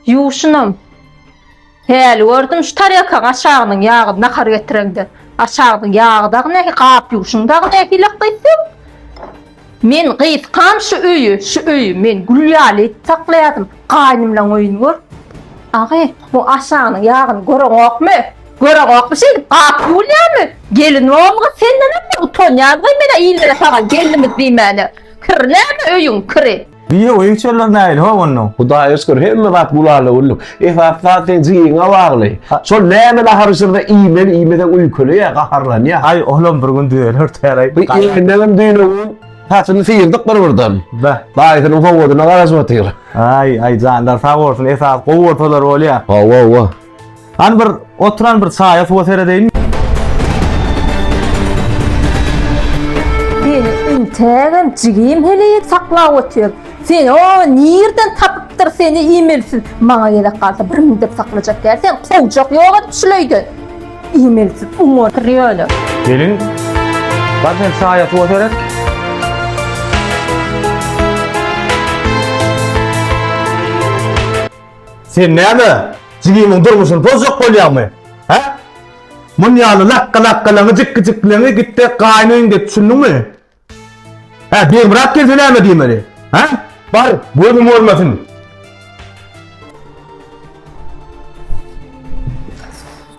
Ýuwşunam. Häli gördüm şu tarýakaň aşagynyň ýagyny nahar getireňde. Aşagynyň ýagy dagy nähili, gap ýuwşuň dagy nähili gyzym? Men gysgam şu öýi, şu öýi men gül ýaly edip saklaýardym. Gaýnymlaň öýüni gör. Agy, bu aşagynyň ýagyny göreňokmy? Göreňokmy şeýdip gap ýuwulýarmy? Gelin ogluňa sendenem utanýarys-aý men-ä illere saga gelnimiz diýmäne. Kir näme öýüň kiri. Biýe oýun çöller näýli ho onda. Hudaýa şükür hemme zat gulala güllik. Esasy zat seň jigiňe bagly. Şol näme nahary şirde iýmeli iýmeseň uýkulaýa gaharlanýa. Aý olam bir gün düzeler täreý. Bu eýýämdänem düýnüň saçyny syýrdyk bir birden. Bäh. Daýysynyň sowadyna garaşyp otyr. Aý aý janlar sag bolsun esasy gowy bolsalar bolýa. Hawa hawa. Hany bir oturan bir saýa suwa seredeýin. Seni integem jigim heleýek saklap otyr. Sen o nirden tapypdyr seni imelsiz. Maňa gerek galsa bir mündep saklajak ýer sen kowjak ýok edip şuleýdi. Imelsiz uň otyr ýöne. Gelin. Bar sen saýa suwa seret. Sen näme, jigimiň durmuşyny pozjak bolýaňmy? Hä? Muny ýaly lakga-lakkalaňy, jikgi-jikgileňi git-de gaýyn öýüňde et, düşündiňmi? Hä, Begmyrat gelse näme diýmeli? Hä? Bar, gözüm görmesin!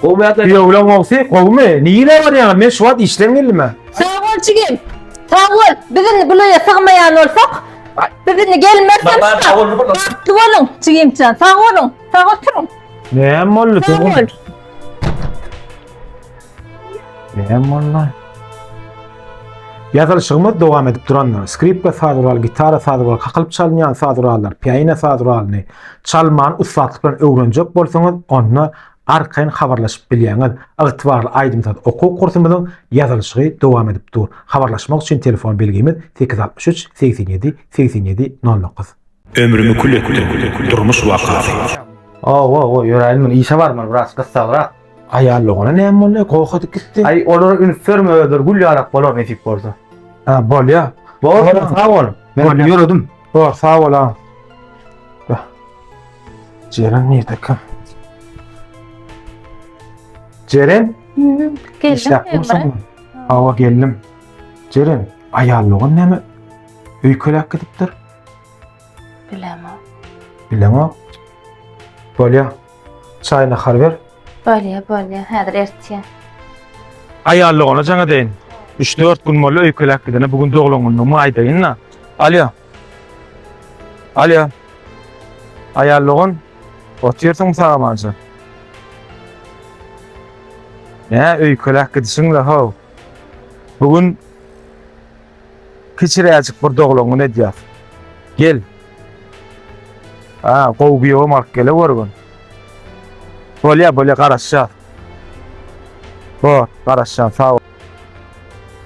Kuyovlaň gogsy gowmy? Nirä barýaňa? Men şu wagt işden geldim-ä. Sag bol jigim. Sag bol. Biz indi bu löýe sygmaýan bolsak, biz indi gelmersem. Baba, sag bol, bol. Bagtly boluň jigimjan. Sag boluň. Sag oturyň. Näme boldy? Sag bol. Näme boldy? Ýazylyşygymyz dowam edip durandyr. Skripka saz guraly, gitara saz guraly, kakylyp çalynýan saz gurallar, pianino saz guralyny çalmany ussatlyk bilen öwrenjek bolsaňyz, onda arkaýyn habarlaşyp bilýäňiz. Ygtybarly aýdym-saz okuw kursumyzyň ýazylyşygy dowam edip dur. Habarlaşmak üçin telefon belgimiz sekiz altmyş üç, segsen ýedi, segsen ýedi, nol dokuz. Ömrümi kül etdim, durmuş wakasy. Ow-ow-ow, ýöräýin men, işe barmaly biraz gyssagrak. Aýal oglan näme boldy? Gohadyp gitdi. Aý, olara üns berme, özleri gül ýarak bolar nesip bolsa. Hä, bolýar. Bor, Bor, sag bol. Men Bolýar. ýöredim. Bor, sag bol agam. Bah. Jeren nirde kim? Jeren, Geldim işläp ömre. dursaň. Hawa geldim. Jeren, aýal oglan näme? Öýkeläp gidipdir. Bilemok. Bilemok. Bolýar. Çaý nahar ber. Bolýa, bolýa, häzir ertýä. Aýallygyna jaň edeýin. Üç-dört gün boldy öýkeläp gidene, bu gün doglan günüňmi aýdaýyn-da. Alýo. Alýo. Aýallygyn, otyrsyňmy sagamanja? Nä öýkeläp gidişiň-le, how? Bu gün Kiçiräjik bir doglangyny edýär. Gel. A, gowy giýewem alyp geleweriň. Bolýar, bolýar, garaşýas. Bor, garaşýan, sag bol.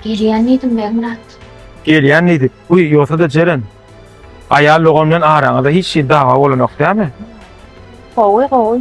Gelýän diýdim, Begmyrat. Gelýän diýdik. Guý, ýogsa-da Jeren, aýal dogan bilen araňyzda hiç hili dawa bolanok dämi? Gowy, gowy.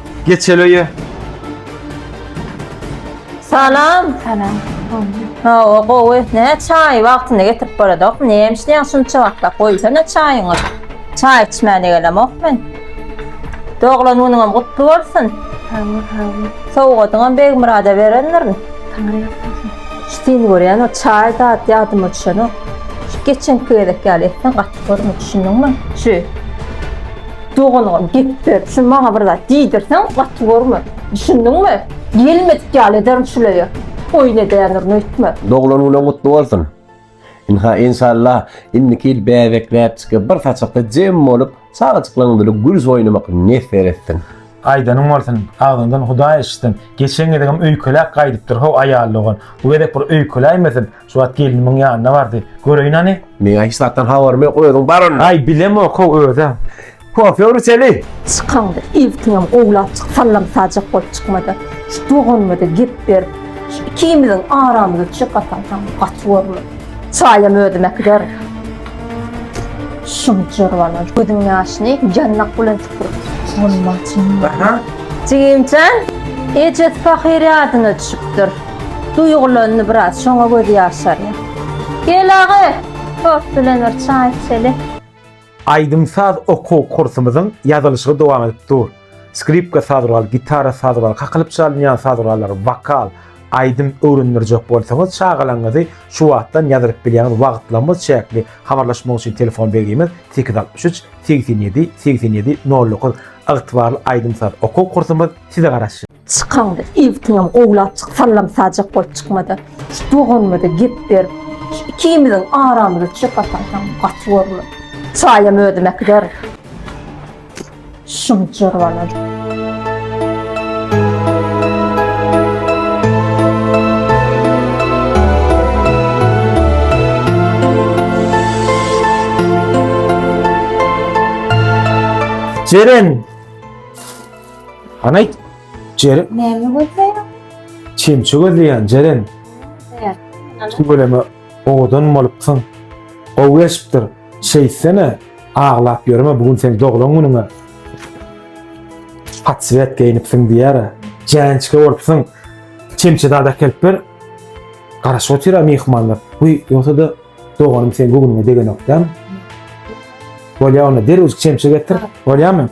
Geç hele ye. Salam. Salam. Hawa, gowy. Ne çaý wagtynda getirip boladok. Ne işleýän şunça wagtda goýsana çaýyňy. Çaý içmäne gelemok men. Doglan günüňem gutly bolsun. Hawa, hawa. Sowgadyňam Begmyrada berendirin. Taňry ýalkasyn. Şitini görýän o çaý zat ýadyma düşenok. Şu geçenki gezek ýaly etsen gaty görme, düşündiňmi? Şu. Doganova gep ber, şu maňa bir zat diýdirseň gaty görme. Düşündiňmi? Gelmedik ýaly ederin şul öýe. Oýun edýändirin öýtme. Doglan günüň gutly bolsun. Ynha enşalla indiki ýyl bäbekläp çykyp bir saçakda jem bolup çagajyklaň bile gürs oýnamak nesser etsin. Aýdanyň bolsun, agzyňdan Hudaý eşitsin. Geçen gezegem öýkeläp gaýdypdyr how aýal dogan. Bu gezek bir öýkeläýmesin, Şu wagt gelnimiň ýanyna bardy. Göreýin hany. Meň hiç zatdan habarym ýok, özüň bar onda. Aý bilemok-ow özem. Kofe ur içeli. Çykanda ilkiňem gowlap çyk, sallam sajak bolup çykma-da. Şu doganyma-da gep berip, şu ikimiziň aramyzy çykasaň gaty bolmaz. Çaýam özüm äkiderin. Şum jyrbana gözüň ýaşyny ýandak bilen süpürip. Bolmaz. Jigimjan, ejesi pahyr ýadyna düşüpdir. Duýgulandy biraz, şoňa gözi ýaşarýar. Gel aga, tort bilen bir çaý içeli. Aýdym-saz okuw kursumyzyň ýazylyşygy dowam edip dur. Skripka saz guraly, gitara saz guraly, kakylyp çalynýan saz gurallary, wokal, aýdym öwrendirjek bolsaňyz, çagalaryňyzy şu wagtdan ýazylyp bilýäňiz, wagtlamyz çäkli. Habarlaşmak üçin telefon belgimiz, sekiz ýüz altmyş üç, segsen ýedi, segsen ýedi, nol dokuz. Ygtybarly aýdym-saz okuw kursumyz size garaşýar. Çykanda ilkiňem gowlap çyk, sallam sajak bolup çykma-da. Şu doganyma-da gep ber. Ikimiziň aramyza çöp atarsyň, gaty görme. Çaýam özüm äkiderin. Şunçur bolan. Jeren! Hanaýt, Jeren. Näme gözleýär? Çemçe gözleýän, Jeren. Tüweleme owadan bolupsyň. Gowy geçipdir. Şeýtsene, aglap ýörme, bu gün seň doglan günüň-ä. Patswet geýnipsiň diýýär-ä. Jäňçke bolupsyň. Çemçe zat äkelip ber. Garaşyp otyr-a myhmanlar. Wiý, ýogsa-da doganym seň göwnüňe degenok dämi? Bolýa onda, derewjik çemçe getir. Bolýamy?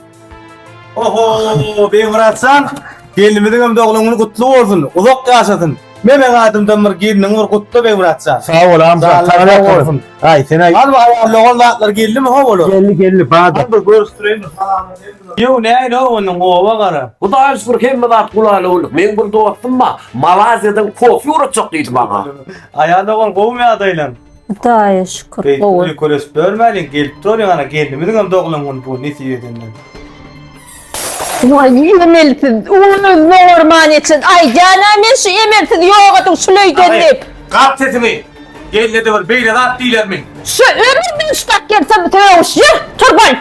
Oho, Beýmyratjan, gelnimiziň hem doglan güni gutly bolsun, uzak ýaşasyn. Memeň adymdan bir gelniňi bir gutla Beýmyratjan. Sag bol Amjad, sag bol. Aý, sen aý. Hany bir aýallogan zatlar geldimi ho olar? Geldi, geldi, bar. Hany bir görüşdireýin bir salamlaşaýyn bilen. Ýow, näin-ow onuň, oba gara. Hudaýa şükür hemme zat gulaýly boldy. Meň bir dostum bar, Malaziýadan kofe ugratjak diýdi maňa. Aýallogan gowumy ýagdaýlaň? Hudaýa şükür, Beýik gowy. öýe köres börmäliň, gelip dur ýaňara gelnimiziň hem doglan güni bu, nesip edenden. Waý emelsiz, uly zorman etsin, aýdýan-a men şu emelsiz ýogadyň şul öýden diýip. Gat sesiňi! Gelne-de bir beýle zat diýlermi? Şu ömründen şudak gelsin sögüş, ýör, tur boý!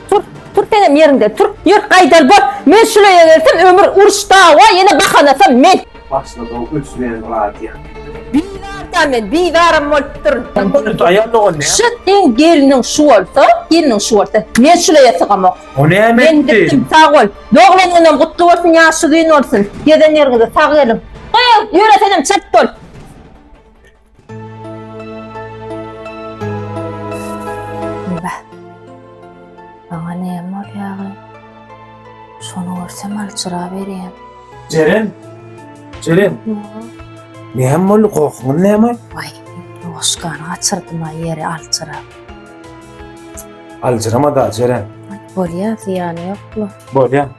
Tur, tur senem ýeriňde, tur, ýör, gaýdal bor! Men şul öýe gelsem ömür uruş, dawa, ýene bahanasam men! Başlady-ow öçmeýän radio. Bizarda men, bizaram bolup durun. Kontent aýal dogan näme? Şu seň gelniň şu bolsa, gelniň şu bolsa, men şuleýe sygamok. O näme etdi? Men gitdim, sag bol. Doglan günüň gutly bolsun, ýaş uzyn bolsun. Gezen ýeriňize sag geliň. Goý, ýöre senem çalt bol. Beh. Maňa näme bolýagy? Şony görsem aljyraberýän. Jeren! Jeren! Näme boldy? Gohuňyz näme? Waý, noşkany gaçyrdym-a ýeri aljyrap. Aljyrama-da, Jeren. Bolýa, zyýany ýok-la. Bolýa.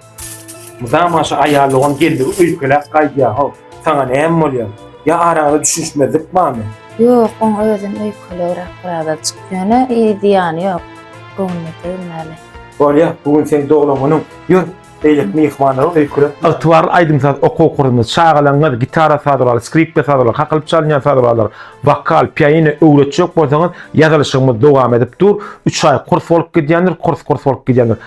Mydama şu aýal dogan geldigi öýkeläp gaýdýa-how. Saňa näme bolýa? Ýa araňyzda düşünişmezlik barmy? Ýok, oň özem öýkelegräk birazajyk. Ýöne zyýany ýok. Göwnüne degmäli. Bolýa, bu gün seň doglan günüň. Ýör, beýleki myhmanlary öýkelet. Ygtybarly aýdym-saz okuw kursunda çagalaryňyz gitara saz uraly, skripka saz uraly, kakylyp çalynýan saz uralar, wokal, pianino öwretjek bolsaňyz, ýazylyşygymyz dowam edip dur. Üç aý kurs bolup gidýändir, kurs kurs bolup gidýändir.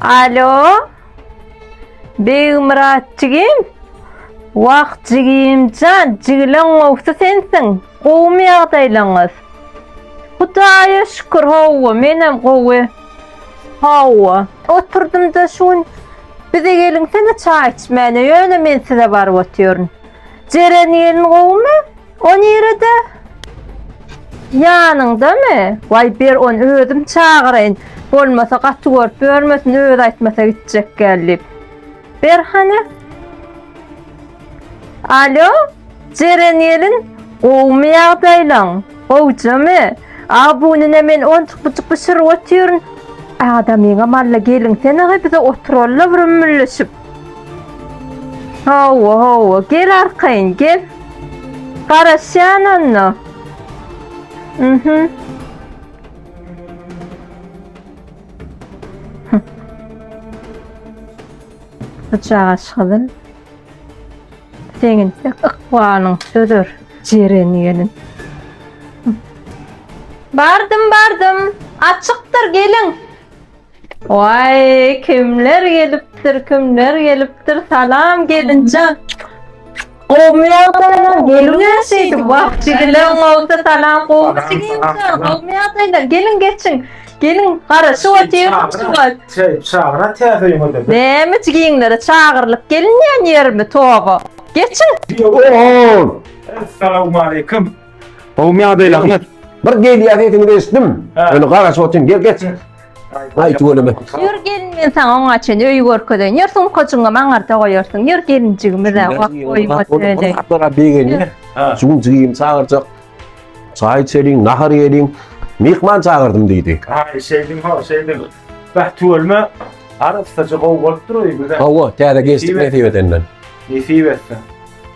Alo. Begmyrat jigim. Wah jigimjan, jigileň gowsy sensiň. Gowumy ýagdaýlaňyz? Hudaýa şükür, hawa, menem gowy. Hawa, oturdym-da şu gün. Bize geliňsene çaý içmäne, ýöne men size baryp otyryn. Jeren gelin gowumy? O nirede? Ýanyňdamy? Waý ber ony özüm çagyraýyn. Bolmasa gaty görüp ýörmesin özi aýtmasa gitjek gelip. Ber hany. Alo? Jeren gelin, gowumy ýagdaýlaň? Gowjamy? A bu nine men onçuk buçuk bişirip otyryn. Adamyňam alla gelin sen-a bize oturalla bir ümmülleşip. Hawa, hawa, gel arkaýyn, gel. Garaşýan onda. Mhm. Bıçağa şygyzyn. Senin ykbalyň sözer jeren gelin. Bardım, bardım. Açykdyr gelin. Waý, kimler gelipdir, kimler gelipdir. Salam gelinjan. Gowmy ýagdaýlar? Geliň şeýdip, wah, jigileň bolsa salam gowmy jigileň? Gowmy ýagdaýlar? Geliň geçiň. Geliň, garaşyp otyryň şu wagt. Çeýip çagyra täze öýüňe. Näme jigiňlere çagyrylyp gelinýän ýermi, toba. Geçiň. Ýow. Essalawmaleýkim. Gowmy ýagdaý Ahmet? Bir gelýär sesini eşitdim. Öyle garaşyp otyryn. Gel geç. Aýt ölüme. Ýör gelin men saňa oňa çen öý görkezen. Ýör sumkaçyňy maňarta goýarsyň. Ýör gelinjigimi de wak goýma söýle. Atlara begenýär. Şu gün jigim çagyrjak. Çaý içeliň, nahar ýeliň. Mihman çagyrdym diýdi. Aý, şeýdim ho, şeýdim. Bäh, tüwelme. Arassaja gowy bolup dur öýümiz. Gowy, täze geçdik nesip edenden. Nesip etsin.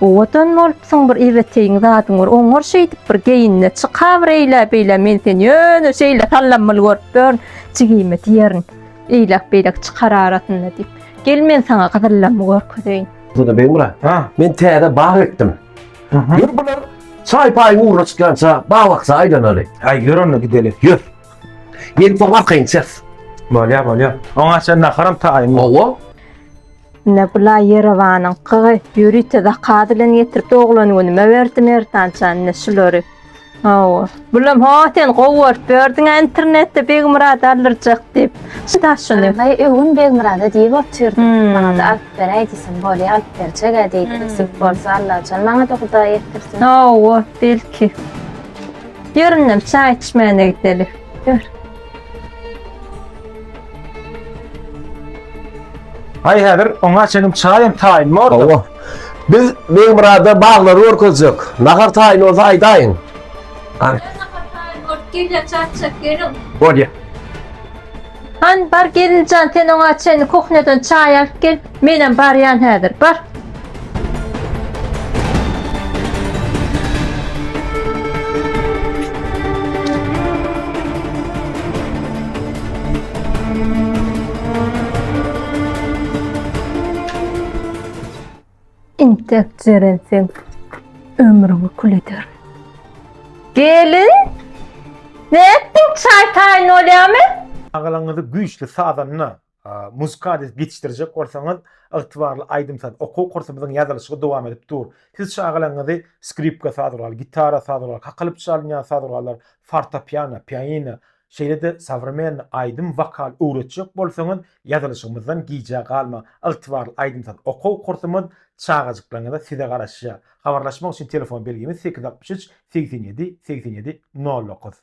Owadan bolupsyň bir ebeteýiň zadyň bir oňar şeýdip bir geýinine çyka bir eýlä beýlä men seni ýöne şeýle sallanmaly görüp dörn jigime diýerin eýläk beýläk çykar arasynda diýip gel men saňa gyzyllamy görkezeýin. Şurada Begmyrat. Ha. Men täze bag ekdim. Ýör bular çaý paýyň ugruna çykýança bag bakja aýlanaly. Aý ýör onda gideli. Ýör. Gelip soň arkaýyn içeris. Bolýar bolýar. Oňa çenli naharam taýynmy? Hawa. Ine bula Ýerewanyň kygy ýörite zakaz bilen getirip doglan günüme berdi Merdanjan ine şulary. Hawa. Bulam ho sen gowy görüp berdiň internetde Begmyrad aldyrjak diýip. Şu daşyny. Aý öwün Begmyrada diýip otyrdy. Hmm. Maňa da alyp beräý diýsem, bolýa alyp berjek ä diýdi. Hmm. Nesip bolsa Allajan maňa da Hudaý ýetirsin. Hawa, belki. Ýöründem çaý içmäne gideli. Ýör. Hay häzir oňa çenim çaýym taýyn boldy. Hawa. Biz Begmurada baglary görkezjek. Nahar taýyn bolsa aýdaýyň. Ay. Gel çatçak gelin. Bolýa. Han bar gelinjan sen oňa çen kuhneden çaý alyp gel. Menem barýan häzir. Bar. Intek jeren sen ömrüňi kül eder. Gelin. Ne ettin çay tayin olyamy? Agalyňyzy güýçli sazanda Muzykady ýetişdirjek bolsaňyz, ygtybarly aýdym-saz okuw kursumyzyň ýazylyşygy dowam edip dur. Siz çagalaryňyzy skripka saz guraly, gitara saz guraly, kakylyp çalynýan saz gurallar, fortopiano, pianino, şeýle-de sowremennyý aýdym, wokal öwretjek bolsaňyz, ýazylyşygymyzdan gijä galmaň. Ygtybarly aýdym-saz okuw kursumyz çagajyklaryňyza size garaşýar. Habarlaşmak üçin telefon belgimiz sekiz altmyş üç segsen ýedi segsen ýedi nol dokuz.